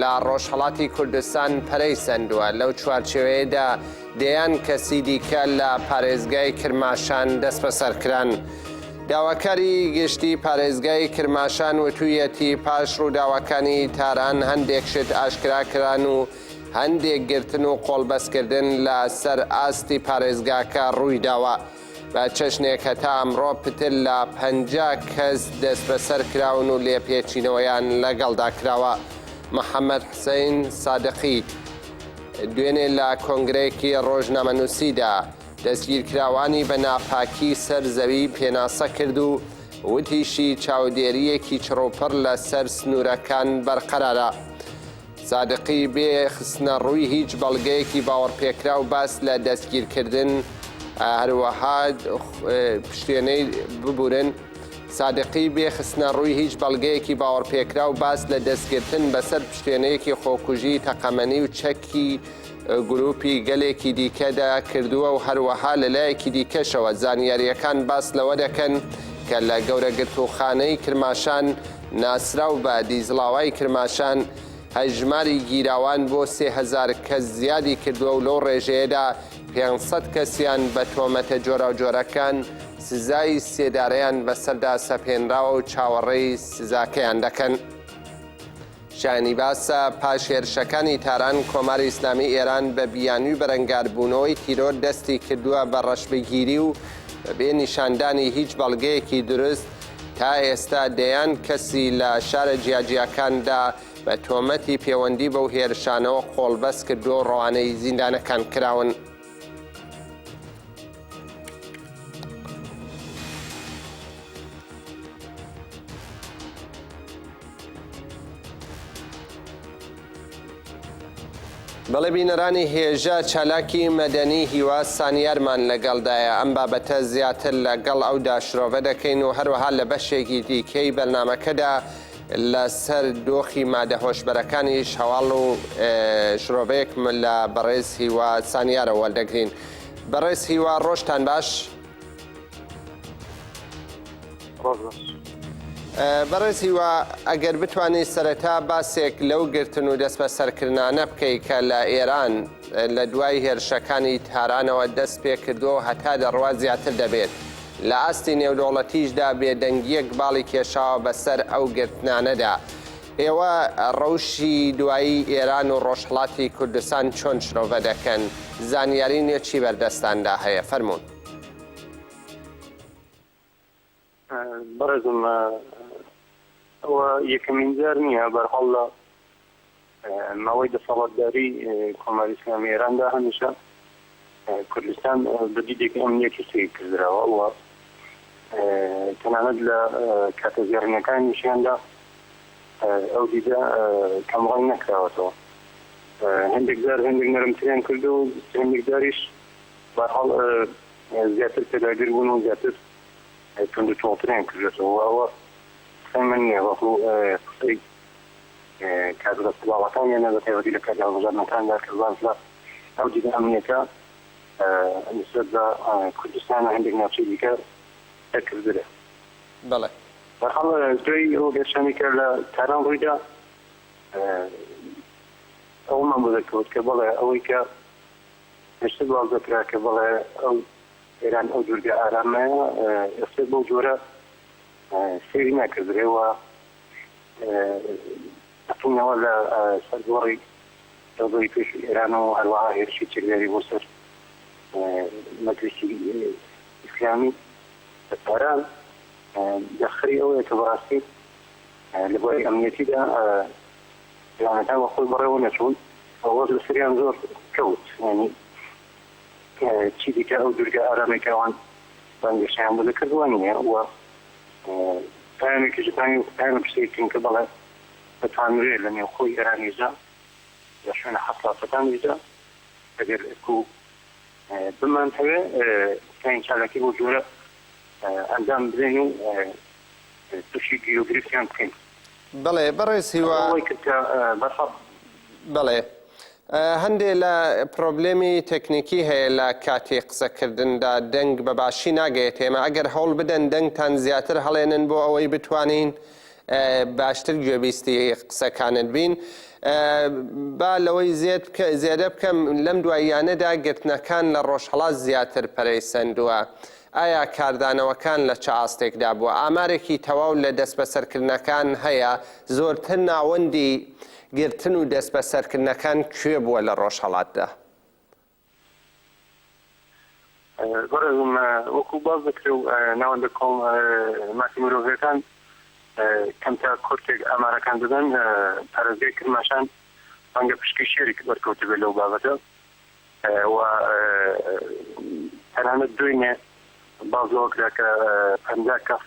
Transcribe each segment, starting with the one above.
لە ڕۆژهەڵاتی کوردستان پەرەی سەندووە، لەو چوارچێوەیەدا دەیان کەسی دیکە لە پارێزگای کرماشان دەستبەسەر کران. داواکاری گشتی پارێزگای کرماشان وتوویەتی، پاش ڕووداوەکانی تاران هەندێک شت ئاشکرا کران و هەندێک گرتن و قۆڵبەستکردن لە سەر ئاستی پارێزگاکە ڕووی داوە. بە چەشنێک هەتا ئەمڕۆ پتر لە پەنجا کەس دەستبەسەر کراون و لێپێچینەوەیان لەگەڵدا کراوە. محەممەد حسەین سادقی دوێنێ لە کۆنگرەیەکی ڕۆژنامەنووسیدا دەستگیرکراوانی بە ناپاکی سەر زەوی پێناسە کرد و وتیشی چاودێرییەکی چڕوپڕ لەسەر سنوورەکان بەرقەرارە. سادقی بێ خستنە ڕووی هیچ بەڵگەیەکی باوەڕپێکراو باس لە دەستگیرکردن هەروەها پشتێنەی ببورن سادقی بێ خستنە ڕووی هیچ بەڵگەیەکی باوەڕپێکراو باس لە دەستگرتن بەسەر پشتێنەیەکی خۆکوژی تەقەمەنی و چەکی گروپی گەلێکی دیکەدا کردووە و هەروەها لە لایەکی دیکەشەوە زانیارییەکان باس لەوە دەکەن کە لە گەورە گرتووخانەی کرماشان ناسراو بە دیزڵاوای کرماشان هەژماری گیراوان بۆ سێ هەزار کەس زیادی کردووە و لەو ڕێژەیەدا پێنج سەد کەسیان بە تۆمەتە جۆراوجۆرەکان سزای سێدارەیان بەسەردا سەپێنراوە و چاوەڕێی سزاکەیان دەکەن. شایانی باسە پاش هێرشەکانی تاران، کۆماری ئیسلامیی ئێران بە بیانووی بەرەنگاربوونەوەی تیرۆر دەستی کردووە بە ڕەشبگیری و بەبێ نیشاندانی هیچ بەڵگەیەکی دروست تا ئێستا دەیان کەسی لە شارە جیاجیاکاندا بە تۆمەتی پێوەندی بەو هێرشانەوە قۆڵبەست کردووە و ڕەوانەی زیندانەکان کراون. بەڵێ بینەرانی هێژا چالاکی مەدەنی هیوا سانیارمان لەگەڵدایە ئەم بابەتە زیاتر لەگەڵ ئەودا شرۆڤە دەکەین و هەروەها لە بەشێکی دیکەی بەرنمەکەدا لەسەر دۆخی مادە هۆشبەرەکانیش هەواڵ و شرۆڤەیەک لە بەڕێز هیوا سانیارە وەردەگرین بەڕێز هیوا ڕۆژتان باش بەڕێز هیوا ئەگەر بتوانانی سەرەتا باسێک لەو گرتن و دەست بە سەرکردانە بکەیت کە لە ئێران لە دوای هێرشەکانی تارانەوە دەست پێ کردو هەتا دەڕوا زیاتر دەبێت لە ئاستی نێودەوڵەتیشدا بێدەنگیەک باڵی کێشاوە بەسەر ئەو گرتنانەدا ئێوە ڕەوشی دوایی ئێران و ڕۆژهەڵاتی کوردستان چۆن شرۆڤە دەکەن؟ زانیاری نوێ چی بەردەستاندا هەیە؟ فەرموون. بەڕێزم ئەوە یەکەمین جار نییە، بە هەر حاڵ لە ماوەی دەسەڵاتداریی کۆماری ئیسلامیی ئێراندا هەمیشە کوردستان بە دیدێکی ئەمنییەتی سەیر کردراوە و تەنانەت لە کاتە زێڕینەکانیشیاندا ئەو دیدە کەمڕەنگ نەکراوەتەوە. هەندێک جار هەندێک نەرمتریان کردو و هەندێک جاریش بەحاڵ زیاتر پێداگر بوون و زیاتر تونند و تۆڵتریان کردێتەوە و ئەوە قسەی من نییە بەڵکو قسەی کاک ڕەسوڵ باڵاکانیانە بە تایبەتی لە کاتی هەڵبژاردنەکاندا کە باس لە ئەو دیدە ئەمنیەکە نسبەت بە کوردستان و هەندێک ناوچەی دیکە دەکردرێ. بەڵێ. بەرحاڵ دوای ئەو هێرشانەی کە لە تاران ڕوویدا ئەوەمان بۆ دەرکەوت کە بەڵێ ئەوەی کە پێشتر باس دەکرا کە بەڵێ ئەو ئێران ئەو دوورگە ئارامەیە ئێستا بەو جۆرە سەیری ناکردرێ و بەتونەوە لە سەر گۆڕی تەوبەی پێشووی ئێران و هەروەها هێرشی چەکداری بۆ سەر مەجلیسی ئیسلامی لە تاران دەخری ئەوەیە کە بەڕاستی لە بۆی ئەمنیەتیدا پلانەکان بە خۆی بەڕێوە نەچوون ئەوەز لە سریان زۆر کەوت ینی چی دیکە ئەو دوورگە ئارامێکەوان بەنگەشیان بۆ دەکردوە نیە و پەیامێکیش ئوکرانی وەکو پەیامێکی سەیر تینکە دەڵێت، دەتانرێت لە نێوخۆی ئێرانیشدا لە شوێنە حەساسەکانیشدا ئەگەر ئەکو بمانتەوێ بتوانین چالاکی بەو جۆرە ئەنجام بدەین و تووشی گیر و گرفتیان بکەین. بەڵێ بەڕێز هیوا. ئەوەی کرد کە بەسەڵ. بەڵێ هەندێ لە پرۆبلێمی تەکنیکی هەیە لە کاتی قسە کردندا دەنگ بە باشی ناگەێت ئێمە ئەگەر هەوڵ بدەن دەنگتان زیاتر هەڵێنن بۆ ئەوەی بتوانین باشتر گوێبیستی قسەکانت بین با لەوەی زێت بکە زێدە بکەم لەم دواییانەدا گرتنەکان لە ڕۆژهڵات زیاتر پەرەی سندووە ئایا کاردانەوەکان لە چ ئاستێکدا بووە ئامارێکی تەواو لە دەست بەسەرکردنەکان هەیە زۆرتر ناوەندی گرتن و دەستبەسەرکردنەکان کوێ بووە لە ڕۆژهەڵاتدا؟ بەڕێزم وەکو باس دەکرێ و ناوەندە کۆم ماسی مرۆڤەکان کەمتە کورتێک ئامارەکان دەدەن پارێزگای کرماشان ڕەنگە پشکی شێرێک بەرکەوت بێت لەو بابەتە و تەنانەت دوێنێ باز لەوە کرا کە پەنجا کەس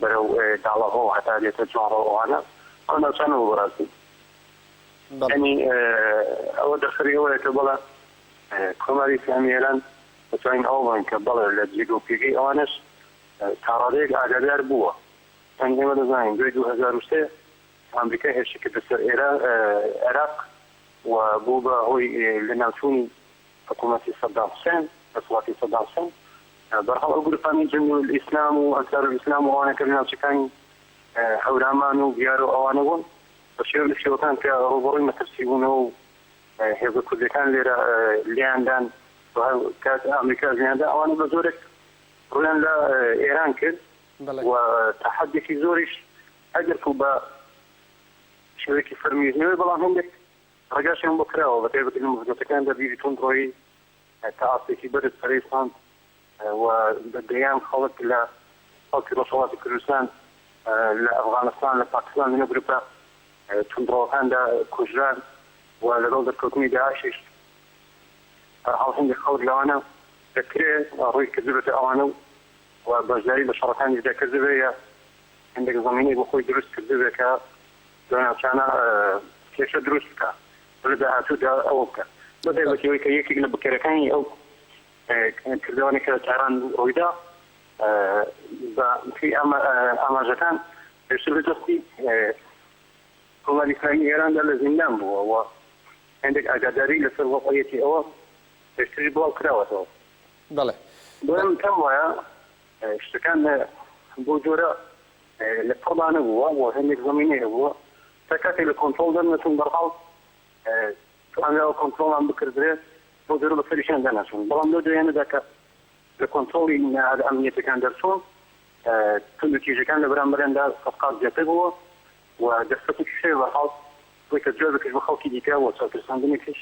بەرەو داڵەهۆ هەتا دێتە جوانڕۆ ئەوانە ئەو ناوچانە بۆ بەڕاستی یانی ئەوە دەرخەری ئەوەیە کە بەڵێ کۆماری ئیسلامی ئێران دەتوانین ئەوە بڵێین کە بەڵێ لە جێگە و پێگەی ئەوانەش تا ڕادەیەک ئاگادار بووە یانی ئێمە دەزانین دوای دوو هەزار و سێ ئەمریکا هێرشی کردە سەر عێراق و بوو بە هۆی لەناوچوونی حکومەتی سەدام حسێن، دەسەڵاتی سەدام حسێن، بەرحاڵ ئەو گروپانەی جندولئیسلام و ئەنسارولئیسلام و ئەوانە کە لە ناوچەکانی هەورامان و بیار و ئەوانە بوون بە شێوە لە شێوەکان کە ڕووبەڕووی مەترسی بوونەوە و هێزە کوردیەکان لێرە لێیان دان و هەر کات ئامریکاش لێیان دا ئەوانە بە زۆرێک ڕوویان لە ئێران کرد و تا حەدێکی زۆریش ئەگەرکو بە شێوەیەکی فەرمیش نەوێ بەڵام هەندێک ڕێگاشیان بۆ کراوە بە تایبەتی لە مزگەوتەکاندا بیری توندڕۆیی تا ئاستێکی بەرز پەرەی سەند و بە دەیان خەڵک لە خەڵکی ڕۆژهەڵاتی کوردستان لە ئەفغانستان، لە پاکستان لەنێو گروپە توندڕەوەکاندا کوژران و لەگەڵ دەرکەوتنی داعشیش هەرحاڵ هێندێک خەڵک لەوانە دەکرێ ڕووی کردبێتە ئەوانە و بەشداری لە شەڕەکانیشدا کردبێ یا هێندێک زەمینەی بۆ خۆی دروست کردبێ کە لەو ناوچانە کێشە دروست بکا و لە داهاتوودا ئەوە بکا. بەبێ ئەوەی کە یەکێک لە بکەرەکانی ئەو کردەوانەی کە لە تاران ڕوویدا بە پێی ئاماژەکان پێشتر لە دەستی کۆماری ئیسلامیی ئێراندا لە زیندان بووە و هێندێک ئاگاداری لەسەر وەزعییەتی ئەوە پێشتریش بڵاو کراوەتەوە. بەڵێ. بۆیە من پێم وایە شتەکان بەو جۆرە لە پڕدا نەبووە و هەندێک زەمینەی هەبووە تا کاتێک لە کۆنترۆڵ دەرنەچوون، بەرحاڵ توانراوە کۆنترۆڵیان بکردرێت بۆ جۆرە بەسەریشیان دەرنەچوون، بەڵام لەو دواییانەدا کە لە کۆنترۆڵی نەهادە ئەمنییەتەکان دەرچوون توندوتیژیەکان لە بەرامبەریاندا سەد قات زیاتر بووە و دەرفەتێکیش هەیە بەرحاڵ بۆی کە جوابێکیش بۆ خەڵکی دیکە و چاوترساندنێکیش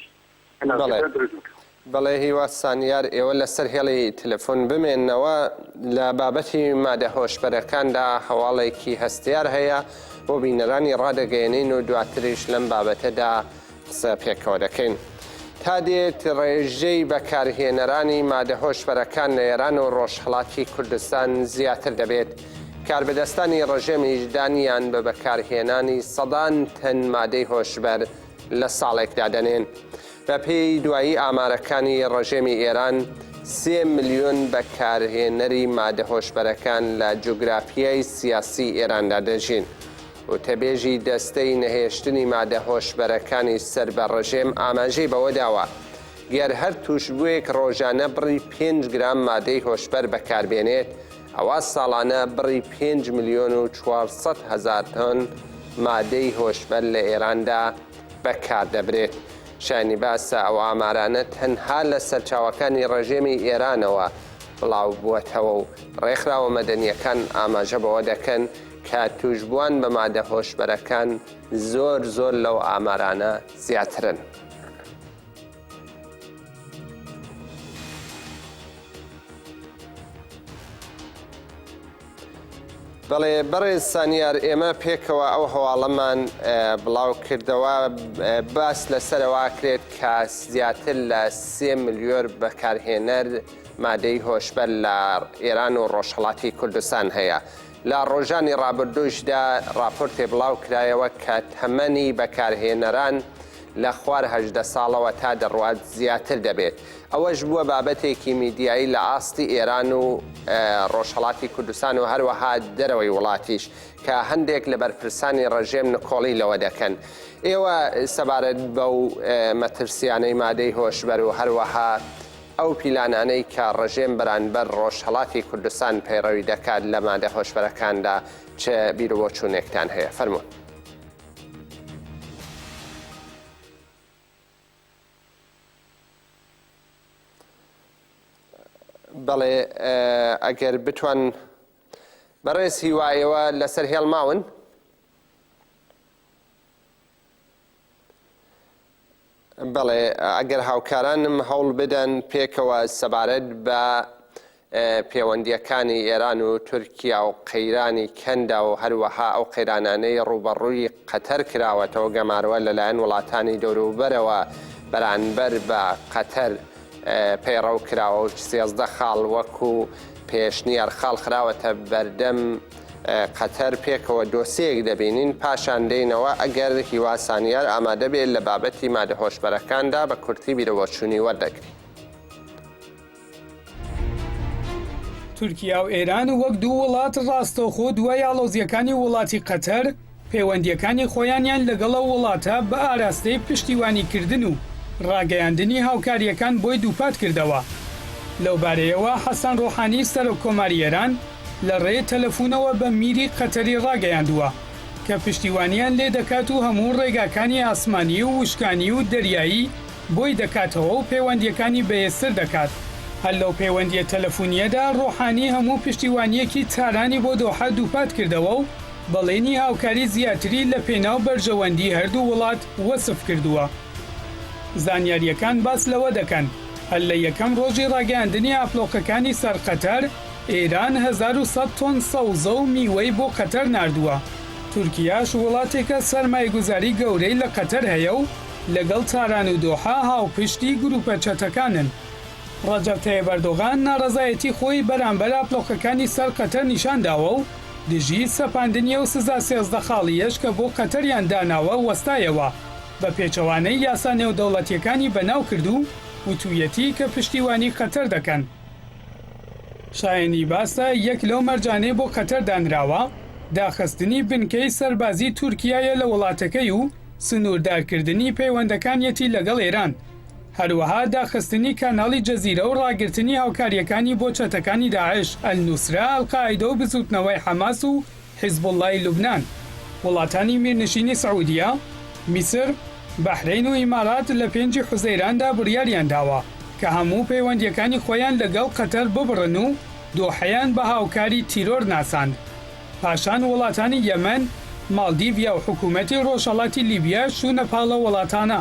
بەڵێ هیوا سانیار ئێوە لەسەر هێڵی تەلەفۆن بمێنەوە لە بابەتی مادە هۆشبەرەکاندا هەواڵێکی هەستیار هەیە بۆ بینەرانی ڕادەگەێنین و دواتریش لەم بابەتەدا قسە پێکەوە دەکەین. تا دێت ڕێژەی بەکارهێنەرانی مادە هۆشبەرەکان لە ئێران و ڕۆژهڵاتی کوردستان زیاتر دەبێت. کاربەدەستانی ڕژێمیش دانیان بە بەکارهێنانی سەدان تەن مادەی هۆشبەر لە ساڵێک دادەنێن. بەپێی دوایی ئامارەکانی ڕژێمی ئێران، سێ ملیۆن بەکارهێنەری مادە هۆشبەرەکان لە جوگرافیای سیاسی ئێراندا دەژین. وتەبێژی دەستەی نەهێشتنی مادە هۆشبەرەکانی سەر بە ڕژێم ئاماژەی بەوە داوە، گەر هەر تووشبووێک ڕۆژانە بڕی پێنج گرام مادەی هۆشبەر بەکاربێنێت، ئەوا ساڵانە بڕی پێنج ملیۆن و چوار سەد هەزار تۆن مادەی هۆشبەر لە ئێراندا بەکاردەبرێت. شایانی باسە ئەو ئامارانە تەنها لە سەرچاوەکانی ڕژێمی ئێرانەوە بڵاوبووەتەوە و ڕێکخراوە مەدەنییەکان ئاماژە بەوە دەکەن کە تووشبووان بە مادە هۆشبەرەکان زۆر زۆر لەو ئامارانە زیاترن. بەڵێ بەڕێز سانیار ئێمە پێکەوە ئەو هەواڵەمان بڵاو کردەوە باس لەسەرەوە کرێت کە زیاتر لە سێ ملیۆر بەکارهێنەر مادەی هۆشبەر لە ئێران و ڕۆژهڵاتی کوردستان هەیە. لە ڕۆژانی ڕابردوشدا راپۆرتێ بڵاو کرایەوە کە تەمەنی بەکارهێنەران لە خوار هەژدە ساڵەوە تا دەڕوات زیاتر دەبێت، ئەوەش بووە بابەتێکی میدیایی لە ئاستی ئێران و ڕۆژهەڵاتی کوردستان و هەروەها دەرەوەی وڵاتیش کە هەندێک لە بەرپرسانی ڕژێم نکۆڵی لەوە دەکەن ئێوە سەبارەت بەو مەترسیانەی مادەی هۆشبەر و هەروەها ئەو پیلانانەی کە ڕژێم بەرانبەر ڕۆژهەڵاتی کوردستان پەیڕەوی دەکات لە مادە هۆشبەرەکاندا چ بیرو بۆچوونێکتان هەیە؟ فەرموون. بەڵێ ئەگەر بتوان بەڕێز هیوایەوە لەسەر هێڵماون بەڵێ ئەگەر هاوکارانم هەوڵ بدەن پێکەوە سەبارەت بە پێوەندیەکانی ئێران و تورکیا و قەیرانی کەندا و هەروەها ئەو قەیرانانەی ڕوبەڕووی قەتەر کراوەتەوە گەمارۆە لەلایەن وڵاتانی دەوروبەرەوە بەرانبەر بە قەتەر. پەیڕەو کراوە و سێزدە خاڵ وەکو پێشنیار خاڵ خراوەتە بەردەم قەتەر، پێکەوە دۆسێیەک دەبینین، پاشان دێینەوە ئەگەر هیوا سانیار ئامادە بێت لە بابەتی مادە هۆشبەرەکاندا بە کورتی بیرەوەچوونی وەردەگرین. تورکیا و ئێران وەک دوو وڵات ڕاستەوخۆ دوای ئاڵۆزییەکانی وڵاتی قەتەر، پەیوەندییەکانی خۆیانیان لەگەڵ ئەو وڵاتە بە ئاراستەی پشتیوانیکردن و ڕاگەیاندنی هاوکارییەکان بۆی دووپات کردەوە. لەو بارەیەوە حەسەن ڕۆحانی سەرۆک کۆماری ئێران لە ڕێی تەلەفوونەوە بە میری قەتەری ڕاگەیاندووە کە پشتیوانیان لێ دەکات و هەموو ڕێگاکانی ئاسمانی و وشکانی و دەریایی بۆی دەکاتەوە و پەیوەندییەکانی بەهێزتر دەکات. هەر لەو پەیوەندییە تەلەفوونییەدا ڕۆحانی هەموو پشتیوانییەکی تارانی بۆ دۆحە دووپات کردەوە و، بەڵێنی هاوکاری زیاتری لە پێناو بەرژەوەندی هەردوو وڵات وەسف کردووە. زانیارییەکان باس لەوە دەکەن، هەر لە یەکەم ڕۆژی ڕاگەیاندنی ئاپلۆقەکانی سەر قەتەر، ئێران هەزار و سەد تۆن سەوزە و میوەی بۆ قەتەر ناردووە. تورکیاش وڵاتێکە سەرمایەگوزاری گەورەی لە قەتەر هەیە و لەگەڵ تاران و دۆحە هاوپشتی گرووپە چەتەکانن. ڕەجەب تەیب ئەردۆغان ناڕەزایەتی خۆی بەرامبەر ئاپلۆقەکانی سەر قەتەر نیشان داوە و دژی سەپاندنی ئەو سزا سێزدە خاڵییەش کە بۆ قەتەریان داناوە وەستایەوە، بە پێچەوانەی یاسا نێودەوڵەتییەکانی بەناو کرد و وتوویەتی کە پشتیوانی قەتەر دەکەن. شایەنی باسە یەک لەو مەرجانەی بۆ قەتەر دانراوە، داخستنی بنکەی سەربازیی تورکیایە لە وڵاتەکەی و سنووردارکردنی پەیوەندەکانیەتی لەگەڵ ئێران، هەروەها داخستنی کاناڵی جەزیرە و ڕاگرتنی هاوکارییەکانی بۆ چەتەکانی داعش، ئەلنوسرە، ئەلقاعیدە و بزووتنەوەی حەماس و حیزبوڵڵای لوبنان. وڵاتانی میرنشینی سعودیە، میسر، بەحرەین و ئیمارات لە پێنجی حوزەیراندا بڕیاریان داوە کە هەموو پەیوەندییەکانی خۆیان لەگەڵ قەتەر ببڕن و دۆحەیان بە هاوکاری تیرۆر ناساند. پاشان وڵاتانی یەمەن، ماڵدیڤیا و حکوومەتی ڕۆژهەڵاتی لیبیا شوونە پاڵە وڵاتانە.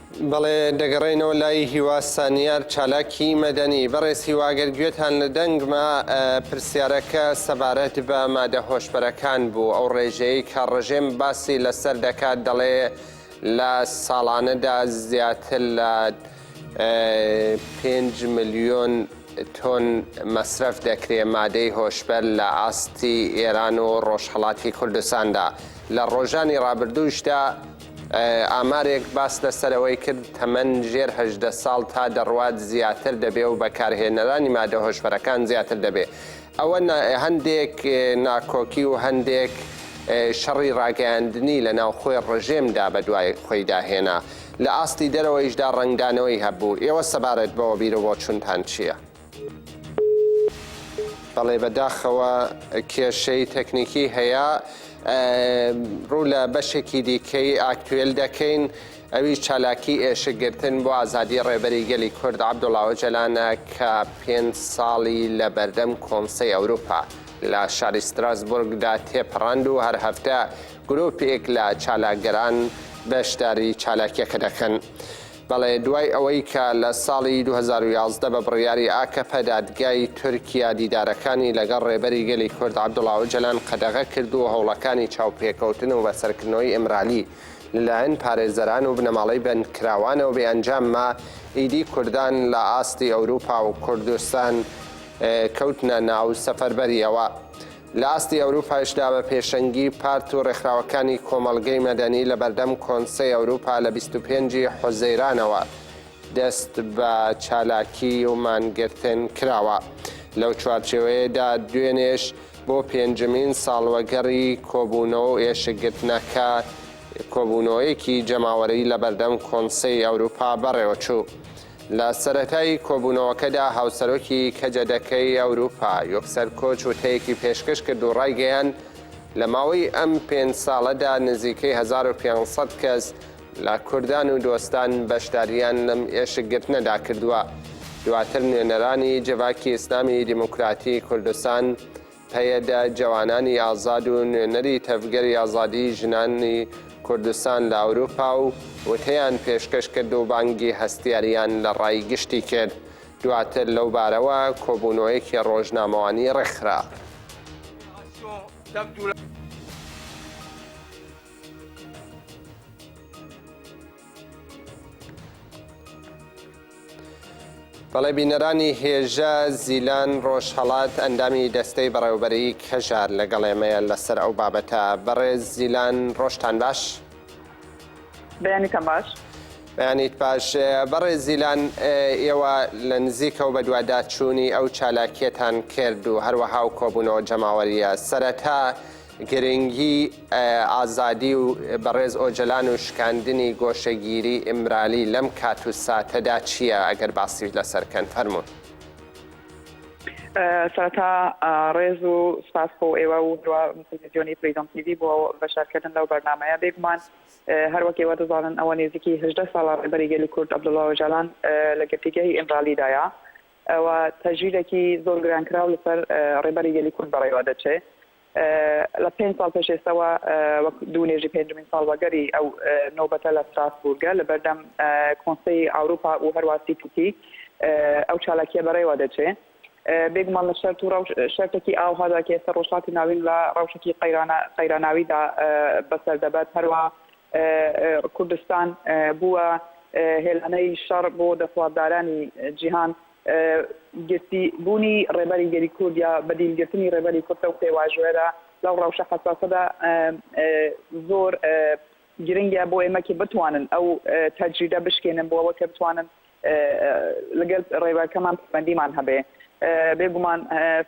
بەڵێ دەگەڕێینەوە لای هیوا سانیار چالاکی مەدەنی. بەڕێز هیوا گەر گوێتان لە دەنگمە پرسیارەکە سەبارەت بە مادە هۆشبەرەکان بوو ئەو ڕێژەیەی کە ڕژێم باسی لەسەر دەکات دەڵێ لە ساڵانەدا زیاتر لە پێنج ملیۆن تۆن مەسرەف دەکرێ مادەی هۆشبەر لە ئاستی ئێران و ڕۆژهەڵاتی کوردستاندا لە ڕۆژانی ڕابردووشدا ئامارێک باس لەسەرەوەی کرد تەمەن ژێر هەژدە ساڵ تا دەڕوات زیاتر دەبێ و بەکارهێنەرانی مادە هۆشبەرەکان زیاتر دەبێ. ئەوە هەندێک ناکۆکی و هەندێک شەڕی ڕاگەیاندنی لە ناوخۆی ڕژێمدا بەدوای خۆیدا هێنا. لە ئاستی دەرەوەیشدا ڕەنگدانەوەی هەبوو. ئێوە سەبارەت بەوە بیرو بۆچوونتان چییە؟ بەڵێ بەداخەوە کێشەی تەکنیکی هەیە ڕوو لە بەشێکی دیکەی ئاکتوێل دەکەین ئەوی چالاکی ئێشکگرتن بۆ ئازادی ڕێبەری گەلی کورد عبدوڵاوە جەلانە کە پێ ساڵی لە بەردەم کۆنسی ئەوروپا لە شاری ستراسبورگدا تێپەڕاند و هەر هەفتە گرروپێک لە چالاکگەران بەشداری چالاکیەکە دەکەن. بەڵێ دوای ئەوەی کە لە ساڵی دوو هەزار و یازدە بە بڕیاری ئاکەپە دادگای تورکیا دیدارەکانی لەگەڵ ڕێبەری گەلی کورد عەبدوڵا ئۆجەلان قەدەغە کرد و هەوڵەکانی چاوپێکەوتن و بەسەرکردنەوەی ئیمرالی لەلایەن پارێزەران و بنەماڵەی بەندکراوانەوە بێ ئەنجام ما، ئیدی کوردان لە ئاستی ئەوروپا و کوردستان کەوتنە ناو سەفەربەرییەوە. لە ئاستی ئەوروپایشدا بە پێشەنگی پارت و ڕێکخراوەکانی کۆمەڵگەی مەدەنی لە بەردەم کۆنسەی ئەوروپا لە بیست و پێنج ی حوزەیرانەوە دەست بە چالاکی و مانگرتن کراوە. لەو چوارچێوەیەدا دوێنێش بۆ پێنجمین ساڵوەگەڕی کۆبوونەوە و ئێشکگرتنەکە کۆبوونەوەیەکی جەماوەریی لە بەردەم کۆنسەی ئەوروپا بەڕێوەچوو. لە سەرەتای کۆبوونەوەکەدا هاوسەرۆکی کەجەدەکەی ئەوروپا یۆکسەر کۆچ وتەیەکی پێشکەش کرد و ڕایگەیاند، لە ماوەی ئەم پێنج ساڵەدا نزیکەی هەزار و پێنج سەد کەس لە کوردان و دۆستان بەشدارییان لەم ئێشکگرتنەدا کردووە. دواتر نوێنەرانی جڤاکی ئیسلامی دیموکراتی کوردستان پەیەدە، جەوانانی ئازاد و نوێنەری تەڤگەری ئازادیی ژنانی کوردستان لە ئەوروپا و وتەیان پێشکەش کرد و بانگی هەستیارییان لە ڕای گشتی کرد. دواتر لەو بارەوە کۆبوونەوەیەکی ڕۆژنامەوانی ڕێکخرا. بەڵێ بینەرانی هێژا زیلان ڕۆژهەڵات ئەندامی دەستەی بەڕێوبەرەیی کەژار لەگەڵ ئێمەیە لەسەر ئەو بابەتە بەڕێز زیلان ڕۆژتان باش بەیانیتان باش بەیانیت باش بەڕێز زیلان ئێوە لە نزیکەوە بەدواداچوونی ئەو چالاکیەتان کرد و هەروەها و کۆبوونەوە جەماوەریە سەرەتا گرنگی ئازادی و بەڕێز ئۆجەلان و شکاندنی گۆشەگیری ئیمرالی لەم کات و ساتەدا چیە ئەگەر باسی لەسەر کەن فەرموون. سەرەتا ڕێز و سپاس بۆ ئێوە و هەروە تەلەفزیۆنی فریدۆم تیڤی بۆ بەشدارکردن لەو بەرنامەیە بێگومان هەر وەک ئێوە دەزانن ئەوە نێزیکی هەژدە ساڵە ڕێبەری گەلی کورد عەبدوڵڵا ئۆجالان لە گرتیگەی ئیمرالیدایە ئەوە تەژیرێکی زۆر گرانکراو لەسەر ڕێبەری گەلی کورد بەڕێوە دەچێ لە پێنج ساڵ پێش ئێستەوە وەک دوو نوێژی پێنجمین ساڵوەگەری ئەو نۆبەتە لە ستراسبورگە لە بەردەم کۆنسەی ئاوروپا و هەروا سیتیکی ئەو چالاکیە بەڕێوە دەچێ بێگومان لە شەرت و شەرتێکی ئاو هەدا کە ئێستا ڕۆژاتی ناوین لە ڕەوشێکی قەیراناویدا بەسەر دەبەت هەروە کوردستان بووە هێلانەی شەڕ بۆ دەسڵاتدارانی جیهان گرتی بوونی ڕێبەری گەلی کورد یا بەدیل گرتنی ڕێبەری کورد ئەو پێواژۆێرە لەو ڕەوشە حەساسەدا زۆر گرنگە بۆ ئێمە کە بتوانن ئەو تەجریدە بشکێنن بۆ ئەوە کە بتوانن لەگەل ڕێبەرکەمان پەیوەندیمان هەبێ بێگومان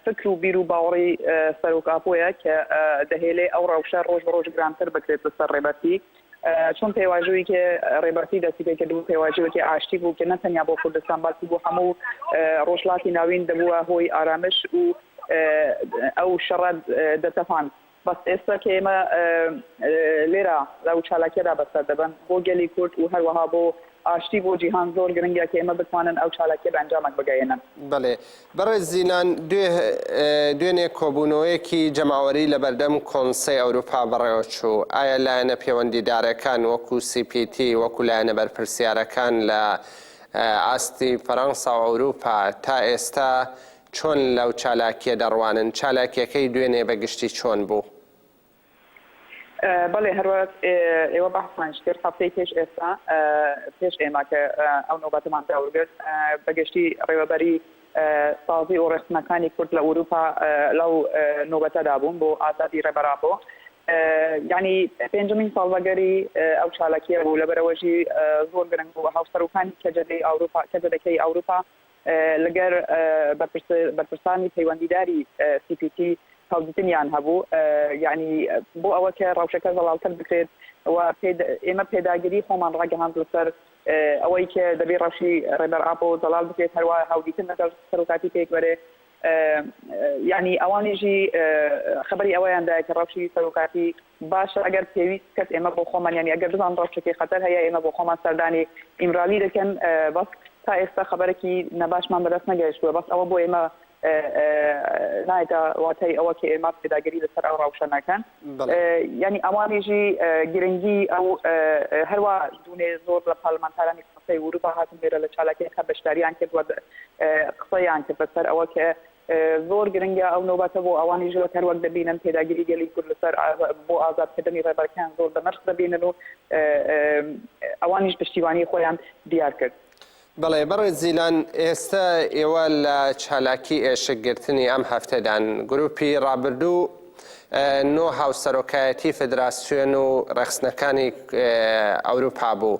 فکر و بیر و باوەڕی سەرۆک ئاپۆیە کە دەهێلێ ئەو ڕەوشە ڕۆژ بە ڕۆژ گرانتر بکرێت بەسەر ڕێبەرتی چۆن پێواژۆیەکی رێبەرتی دەستی پێ کردبوو، پێواژۆیەکی ئاشتی بوو کە نە تەنیا بۆ کوردستان بەڵکو بۆ هەموو رۆژهەڵاتی ناوین دەبووە هۆی ئارامش و ئەو شەڕە دەتەپاند. بەس ئێستا کە ئێمە لێرە لەو چالاکیەدا بەسەر دەبەن بۆ گەلی کورد و هەروەها بۆ ئاشتی بۆ جیهان زۆر گرنگە کە ئێمە بتوانن ئەو چالاکیە بە ئەنجامەک بگەیەنن. بەڵێ بەڕێز زیلان، دوێنێ کۆبوونەوەیەکی جەماوەری لە بەردەم کۆنسەی ئەوروپا بەڕێوەچوو، ئایا لایەنە پێوەندیدارەکان وەکو سی پی تی، وەکو لایەنە بەرپرسیارەکان لە ئاستی فەرەنسا و ئەوروپا تا ئێستا چۆن لەو چالاکیە دەڕوانن؟ چالاکیەکەی دوێنێ بە گشتی چۆن بوو؟ بەڵێ هەرواز ئێوە بەحسمانش کرد هەفتەی پێش ئێستا پێش ئێمە کە ئەو نۆبەتەمان داورگرت بەگشتی ڕێوەبەری سازی و ڕێخستنەکانی کورد لە ئوروپا لەو نۆبەتەدا بوون بۆ ئازادی ڕێبەرامبۆ یعنی پێنجمین ساڵبەگەری ئەو چالاکیە بوو لەبەرەوەژی زۆر گرنگ بوو هاوسەرۆکانی کەجەدەی ئەوروپا کەجەدەکەی ئەوروپا لەگەر بەرپرسانی پەیوەندیداری سی پی تی هەڵگتنیان هەبوو یانی بۆ ئەوە کە ڕەوشەکە زەڵالتر بکرێت و ئێمە پێداگری خۆمان ڕاگەهاند لەسەر ئەوەی کە دەبێ ڕەوشی ڕێبەر ئاپۆ زەڵال بکرێت هەروە هەڵگیتن لەگەڵ سەرۆکاتی پێکوەرێ یانی ئەوانیژی خەبەری ئەوەیان دایە کە ڕەوشی سەرۆکاتی باشە ئەگەر پێویست بکەت ئێمە بۆ خۆمان یانی ئەگەر بزان ڕەوشەکەی خەتەر هەیە ئێمە بۆ خۆمان سەردانی ئیمرالی دەکەن بەس تا ئێستا خەبەرەکی نەباشمان بەدەست نەگەیشتووە بەس ئەوە بۆ ئێمە نایدا واتای ئەوە کە ئێمە پێداگەری لەسەر ئەو ڕاوشە ناکەن ینی ئەوانیژی گرنگی ئەو هەروە دوێ زۆر لە پارلمانتارانی قسەی وروپا هاتن لێرە لە چالاکیەکە بەشداریان کرد قسەیان کرد بەسەر ئەوە کە زۆر گرنگە ئەو نۆبەتە بۆ ئەوانیش وەک هەروەک دەبینن پێداگیری گەلی کورد لەسەر بۆ ئازادکردنی ڕێبەرەکەیان زۆر بەنرخ دەبینن و ئەوانیش پشتیوانی خۆیان دیار کرد. بەڵێ بەڕێز زیلان، ئێستە ئێوە لە چالاکی ئێشک گرتنی ئەم هەفتەدان، گروپی ڕابردوو نۆ هاوسەرۆکایەتی فدراسیۆن و ڕێخستنەکانی ئەوروپا بوو،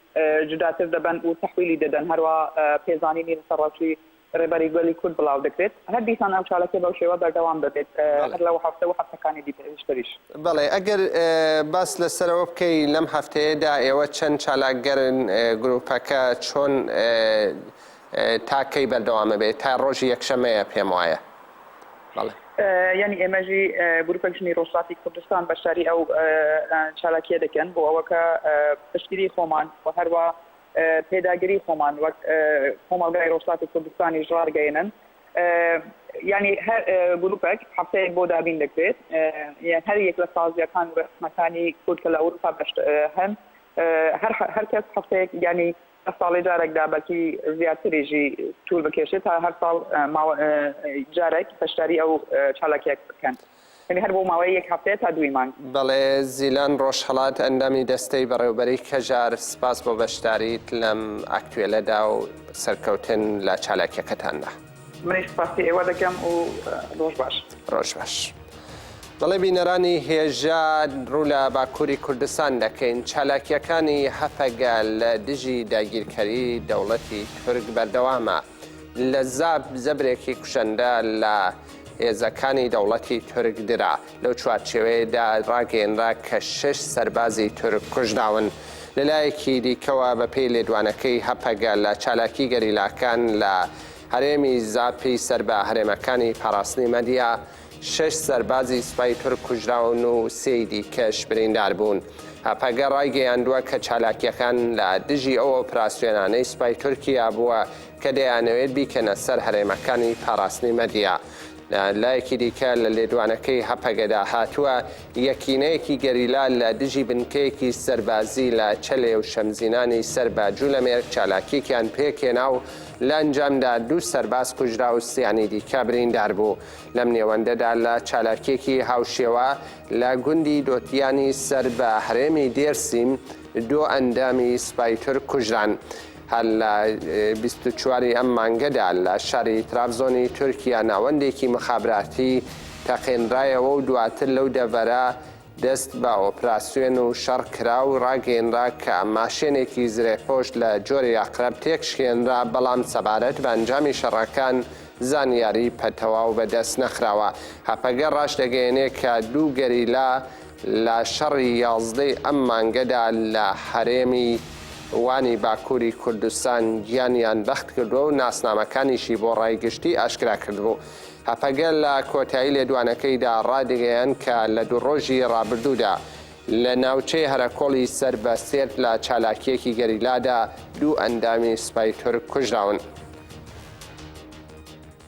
جوداتر دەبەن و تەحویلی دەدەن، هەروا پێزانینی لەسەر ڕاوچووی ڕێبەری گەلی کورد بڵاو دەکرێت، هەر دیسان ئەم چالاکیە بەو شێوە بەردەوام دەبێت هەر لەو هەفتە و هەفتەکانی دیکەشتریش. بەڵێ، ئەگەر باس لەسەرەوە بکەی لەم هەفتەیەدا ئێوە چەند چالاکگەرن، گروپەکە چۆن تا کەی بەردەوامە بێ تا ڕۆژی یەکشەمەیە پێم وایە بەڵێ. یانی ئێمەژی گروپەک ژنی ڕۆژهڵاتی کوردستان بەشداری ئەو چالاکیە دەکەن بۆ ئەوەکە پشتگیری خۆمان و هەروا پێداگری خۆمان وەک کۆمەڵگای ڕۆژهڵاتی کوردستانیش ڕارگەێنن یانی هەر گروپەک هەفتەیەک بۆ دابین دەکرێت هەر یەک لە سازیەکان و ڕسمەکانی کورد کە لە ئەوروپا بەشت هەن هەر هەرکەس هەفتەیەک یانی هەر ساڵێ جارەکدا بەلکی زیاتریژی توور بکێشێت تا هەر ساڵ ماوە جارەک پەشداری ئەو چالاکیە بکەن یعنی هەر بۆ ماوەی یەک هەفتەیە تا دووی مانگ. بەڵێ زیلان ڕۆژهەڵات ئەندامی دەستەی بەڕێوبەری کەژار سپاس بۆ بەشداریت لەم ئاکتوێلەدا و سەرکەوتن لە چالاکیەکەتاندا. منی سپاسی ئێوە دەکەم و ڕۆژ باش ڕۆژ باش. بەڵێ بینەرانی هێژا ڕوو لە باکووری کوردستان دەکەین چالاکیەکانی هەپەگە لە دژی داگیرکەری دەوڵەتی تورک بەردەوامە لە زاپ زەبرێکی کوشەندە لە هێزەکانی دەوڵەتی تورک درا. لەو چوارچێوەیەدا ڕاگەیەنرا کە شەش سەربازی تورک کوژراون. لەلایەکی دیکەوە، بەپێی لێدوانەکەی هەپەگە لە چالاکی گەریلاکان لە هەرێمی زاپی سەر بە هەرێمەکانی پاراستنی مەدیا، شەش سەربازی سوپای تورک کوژراون و سێی دیکەش بریندار بوون. هەپەگە ڕایگەیاندووە کە چالاکییەکان لە دژی ئەو ئۆپراسیۆنانەی سوپای تورکیا بووە کە دەیانەوێت بیکەنە سەر هەرێمەکانی پاراستنی مەدیا. لە لایەکی دیکە لە لێدوانەکەی هەپەگەدا هاتووە، یەکینەیەکی گەریلا لە دژی بنکەیەکی سەربازی لە چەلێ و شەمزینانی سەر بە جولەمێرگ چالاکیەکیان پێکهێنا و لە ئەنجامدا دوو سەرباز کوژرا و سیانی دیکە بریندار بوو. لەم نێوەندەدا لە چالاکیەکی هاوشێوە لە گوندی دۆتیانی سەر بە هەرێمی دێرسیم دوو ئەندامی سوپای تورک کوژران. هەر لە بیست و چوار ی ئەم مانگەدا لە شاری ترابزۆنی تورکیا ناوەندێکی مخابراتی تەقێنرایەوە و دواتر لەو دەڤەرە دەست بە ئۆپراسیۆن و شەڕ کرا و ڕاگەیەنرا کە ماشێنێکی زرێپۆش لە جۆری ئەقرەب تێکشکێنرا بەڵام سەبارەت بە ئەنجامی شەڕەکان زانیاری پە تەواو بەدەست نەخراوە. هەپەگە ڕاشدەگەیەنێ کە دوو گەریلا لە شەڕی یازدەی ئەم مانگەدا لە هەرێمی وانی باکووری کوردستان گیانیان بەختکردووە و ناسنامەکانیشی بۆ ڕای گشتی ئاشکراکردبوو. هەپەگە لە کۆتایی لێدوانەکەیدا ڕایدەگەیاند کە لە دوو ڕۆژی ڕابردوودا لە ناوچەی هەرەکۆڵی سەر بە سێرت لە چالاکییەکی گەریلادا دوو ئەندامی سوپای تورک کوژراون.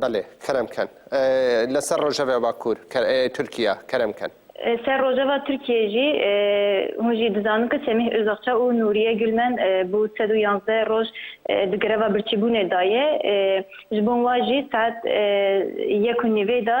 بەلێ کەرەم کەن لە سەر رۆژەڤ باکور تورکیا کەرەم کەن. سەر رۆژەڤ تورکیە ژی هونژی دزانن ک سەمیح ئوزەغچە ئوو نوریە گولمەن بو سەد و یانزدە روژ د گرەڤ برچی بونێ دایێ ژ بون وا ژی ساعەت یەک و نیڤێ دا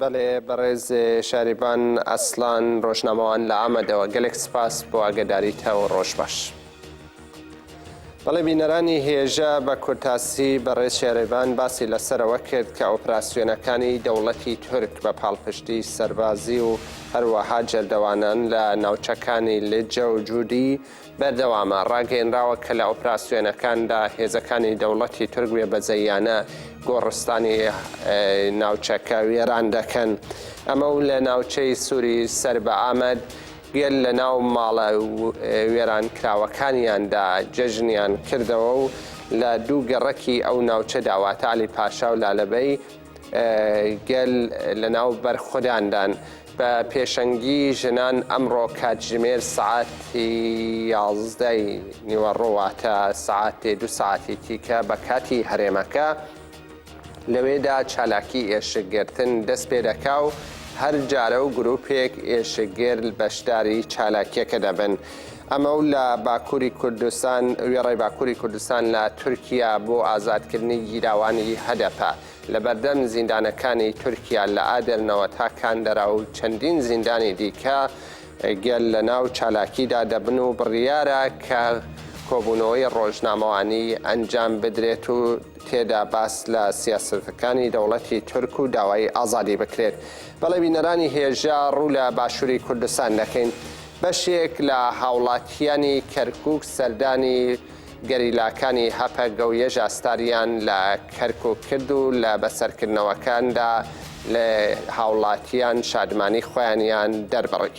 بەڵێ بەڕێز شاریڤان ئەسڵان ڕۆژنامەوان لە ئامەدەوە گەلێک سپاس بۆ ئاگەداریتە و ڕۆژ باش. بەڵێ بینەرانی هێژە بە کورتاسی بەڕێز شێرێڤان باسی لەسەرەوە کرد کە ئۆپراسیۆنەکانی دەوڵەتی تورک بە پاڵپشتی سەربازی و هەروەها جەردەوانان لە ناوچەکانی لجە و جودی بەردەوامە، ڕاگەیەنراوە کە لە ئۆپراسیۆنەکاندا هێزەکانی دەوڵەتی تورک بێ بەزەییانە گۆڕستانی ناوچەکە وێران دەکەن، ئەمە و لە ناوچەی سوری سەر بە ئامەد گەل لە ناو ماڵە وێرانکراوەکانیاندا جەژنیان کردەوە و لە دوو گەڕەکی ئەو ناوچەدا واتە عەلی پاشا و لالەبەی، گەل لەناو بەرخوداندان بە پێشەنگی ژنان ئەمڕۆ کاتژمێر سەعاتی یازدەی نیوەڕۆ واتە سەعاتێ دو سەعاتی تیکە بە کاتی هەرێمەکە لەوێدا چالاکی ئێشکگرتن دەست پێ دەکا و هەر جارە و گروپێک ئێشکگر بەشداری چالاکیەکە دەبن. ئەمە و لە باکووری کوردستان، وێڕای باکووری کوردستان لە تورکیا بۆ ئازادکردنی گیراوانی هەدەپە لە بەردەم زیندانەکانی تورکیا لە ئادەرنەوە تا کاندەرا و چەندین زیندانی دیکە گەل لەناو چالاکیدا دەبن و بڕیارە کە کۆبوونەوەی ڕۆژنامەوانی ئەنجام بدرێت و تێدا باس لە سیاسەتەکانی دەوڵەتی تورک و داوای ئازادی بکرێت. بەڵێ بینەرانی هێژا ڕوو لە باشووری کوردستان دەکەین. بەشێک لە هاوڵاتییانی کەرکووک سەردانی گەریلاکانی هەپەگە و یەژا ستاریان لە کەرکووک کرد و لە بەسەرکردنەوەکاندا لە هاوڵاتییان شادمانی خۆیانیان دەربڕی.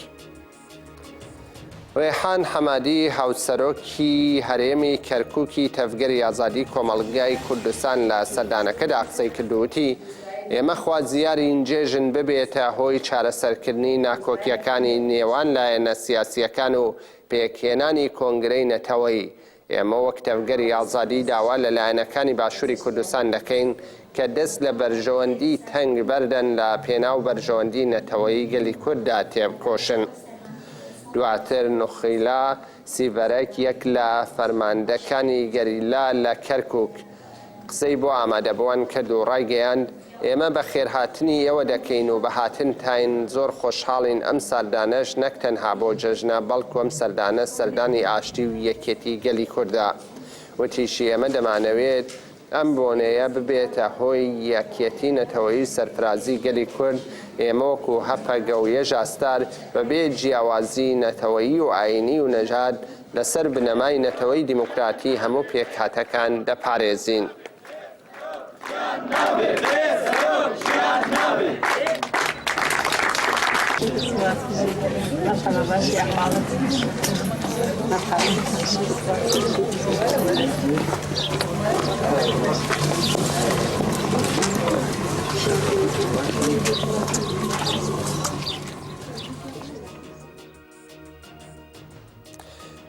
رێحان حەمادی، هاوسەرۆکی هەرێمی کەرکووکی تەڤگەری ئازادیی کۆمەڵگای کوردستان لە سەردانەکەدا قسەی کرد و وتی، ئێمە خوازیارین جێژن ببێتە هۆی چارەسەرکردنی ناکۆکییەکانی نێوان لایەنە سیاسییەکان و پێکهێنانی کۆنگرەی نەتەوەیی. ئێمە وەک تەڤگەری ئازادی داوا لە لایەنەکانی باشووری کوردستان دەکەین کە دەست لە بەرژەوەندی تەنگ بەردەن لە پێناو بەرژەوەندی نەتەوەیی گەلی کورددا تێبکۆشن. دواتر نوخیلا سیڤەرەک یەک لە فەرماندەکانی گەریلا لە کەرکوک، قسەی بۆ ئامادەبوان کرد و ڕایگەیاند، ئێمە بە خێرهاتنی ئێوە دەکەین و بە هاتنتاین زۆر خۆشحاڵین، ئەم ساردانەش نەک تەنها بۆ جەژنە، بەڵکو ئەم سەردانە سەردانی ئاشتی و یەکێتی گەلی کوردە. وتیشی، ئێمە دەمانەوێت ئەم بۆنەیە ببێتە هۆی یەکێتی نەتەوەیی و سەرفرازی گەلی کورد، ئێمە وەکو هەپەگە و یەژاستار بەبێ جیاوازی نەتەوەیی و ئاینی و نەژاد لەسەر بنەمای نەتەوەی دیموکراتی هەموو پێکهاتەکان دەپارێزین.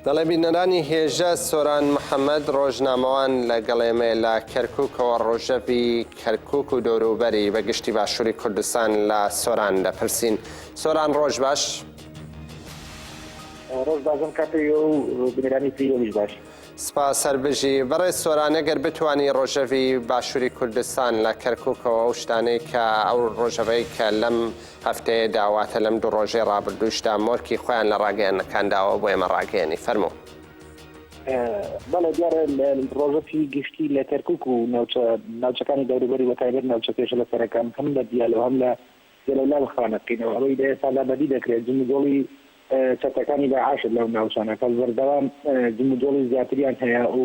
دەڵێ بینەرانی هێژە سۆران محەممەد ڕۆژنامەوان لە گەڵێمێ لە کەرککەوە ڕۆژەڤی کەرکک و دۆروبەری بە گشتی باشووری کوردستان لە سۆران دەپرسین سۆران ڕۆژ باش ڕۆژ بازم کاتی و بینەرانی پیرۆمیش باش. سپاس هەر بژی. بەڕێز سۆران ئەگەر بتوانی ڕۆژەڤی باشووری کوردستان لە کەرکووکەوە ئەو شتانەی کە ئەو ڕۆژەڤەی کە لەم هەفتەیەدا واتە لەم دوو ڕۆژەی ڕابردووشدا مۆرکی خۆیان لە ڕاگەیەنەکان داوە بۆ ئێمە ڕاگەیەنی. فەرموو. بەڵێ دیارە ڕۆژەڤی گشتی لە کەرکووک و ناوچە ناوچەکانی دەوروبەری بەتایبەت ناوچە پێشە لە سەرەکان هەم لە دیالە و هەم لە جەلەولا بە خوانەکەینەوە ئەوەی لە ئێستادا بەدی دەکرێت جموجۆڵی چەتەکانی داعش لەو ناوچانە کە بەردەوام جموجۆڵی زیاتریان هەیە و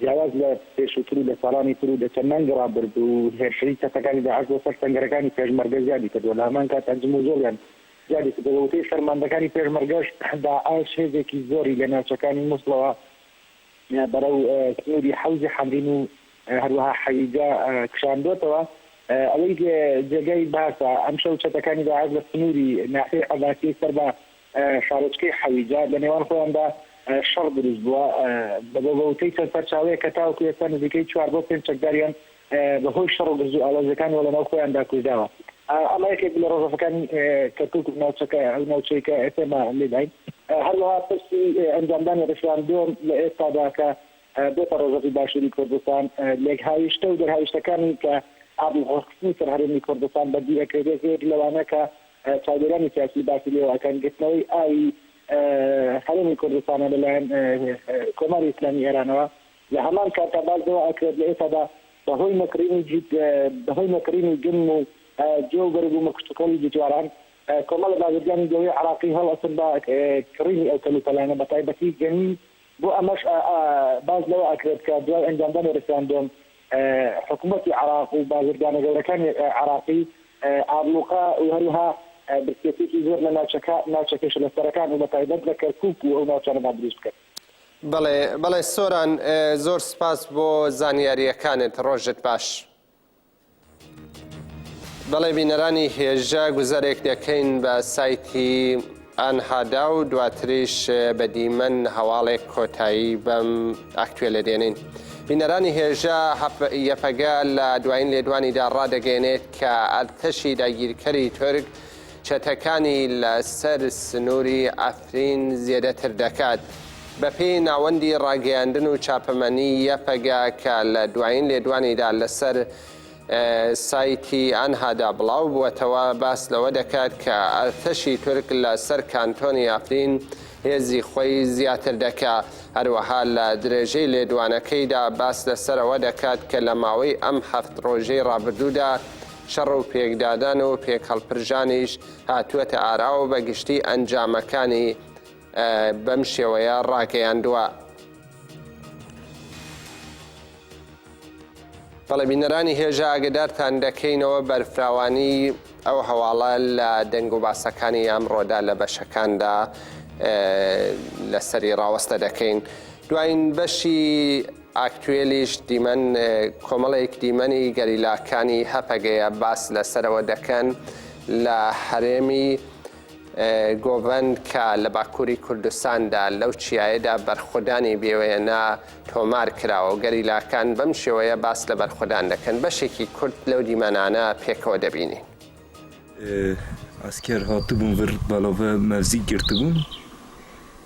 جیاواز لە پێشووتر و لە ساڵانی تر و لە چەند مانگی ڕابردوو هێرشەی چەتەکانی داعش بۆ سەر سەنگەرەکانی پێشمەرگە زیادی کردووە لە هەمان کاتدا جموجۆڵیان زیادی کردووە بە وتەی فەرماندەکانی پێشمەرگەش داعش هێزێکی زۆری لە ناوچەکانی موسڵەوە بەرەو سنووری حەوزی حەمرین و هەروەها حەویجە کشاندۆتەوە. ئەوەی جێگای باسە، ئەمشەو چەتەکانی داعش لە سنووری ناحیەی عەباسیەی سەر بە شارۆچکەی حەویجە لە نێوان خۆیاندا شەڕ دروست بووە. بەوتەی چەند سەرچاوەیەک کە تاوەکو ئێستا نزیکەی چوار بۆ پێنج چەکداریان بە هۆی شەڕ و گرژوئاڵۆزیەکانەوە لە ناو خۆیاندا کوژراوە. ئەمە یەکێک بوو لە ڕۆژەڤەکانی کەرکوک و ناوچەکە، ئەو ناوچەی کە ئێستا ئێمە لێداین. هەروەها پرسی ئەنجامدانی ڕیفراندۆم لە ئێستادا کە بۆتە ڕۆژەڤی باشووری کوردستان، لێکهاویشتە و دەرهاویشتەکانی کە ئابڵوقە خستنی سەر هەرێمی کوردستان بەرگی ئەکرێت، یەکێک لەوانە کە چاودێرانی سیاسی باسی لێوە ئەکەن گرتنەوەی ئاوی هەرێمی کوردستانە لەلایەن کۆماری ئیسلامی ئێرانەوە، لە هەمان کاتدا باس لەوە ئەکرێت لە ئێستادا بەهۆی نەکڕینی جیت بەهۆی نەکڕینی گەنم و جۆ و بەرگوومە کشتوکاڵی جیتواران کۆمەڵە بازرگانی گەورەی عێراقی هەڵ ئەستن بە کڕینی ئەو کەلوپەلانە بەتایبەتی گەنم بۆ ئەمەش باس لەوە ئەکرێت کە دوای ئەنجامدانی ڕیفراندۆم حکومەتی عێراق و بازرگانە گەورەکانی عێراقی ئابڵوقە و هەروەها برسێتیەکی زۆر لە ناوچەکە ناوچە کێشەلەسەرەکان و بەتایبەت لە کەرکوک و ئەو ناوچانەدا دروست بکەن. بەڵێ بەڵێ سۆران زۆر سوپاس بۆ زانیارییەکانت ڕۆژت باش. بەڵێ بینەرانی هێژا گوزەرێک دەکەین بە سایتی ئانهادا و دواتریش بە دیمەن هەواڵێک کۆتایی بەم ئەکتوێلە دێنین. بینەرانی هێژا یەپەگە لە دوایین لێدوانیدا ڕادەگەێنێت کە ئەرتەشی داگیرکەری تورک چەتەکانی لە سەر سنووری عەفرین زێدەتر دەکات. بە پێی ناوەندی ڕاگەیاندن و چاپەمەنی یەپەگە کە لە دوایین لێدوانیدا لە سەر سایتی ئانهادا بڵاو بووەتەوە باس لەوە دەکات کە ئەرتەشی تورک لە سەر کانتۆنی عەفرین هێزی خۆی زیاتر دەکا. هەروەها لە درێژەی لێدوانەکەیدا باس لە سەر ئەوە دەکات کە لە ماوەی ئەم هەفت ڕۆژەی ڕابردوودا، شەڕ و پێکدادان و پێکهەڵپرژانیش هاتووەتە ئاراوە بە گشتی ئەنجامەکانی بەم شێوەیە ڕاگەیاندووە. بەڵێ بینەرانی هێژا ئاگدارتان دەکەینەوە بەرفراوانی ئەو هەواڵە لە دەنگ و باسەکانی ئەمڕۆدا لە بەشەکاندا لەسەری ڕاوەستە دەکەین دوایین بەشی ئاکتوێلیش دیمەن کۆمەڵێک دیمەنی گەریلاکانی هەپەگەیە باس لەسەرەوە دەکەن لە هەرێمی گۆڤەن کە لە باکووری کوردستاندا لەو چیایەدا بەرخودانی بێوێنە تۆمار کراوە و گەریلاکان بەم شێوەیە باس لە بەرخودان دەکەن بەشێکی کورت لەو دیمەنانە پێکەوە دەبینین. ئەسکەر هاتبوون ورد بەڵاڤە مەڤزیک گرتبوون.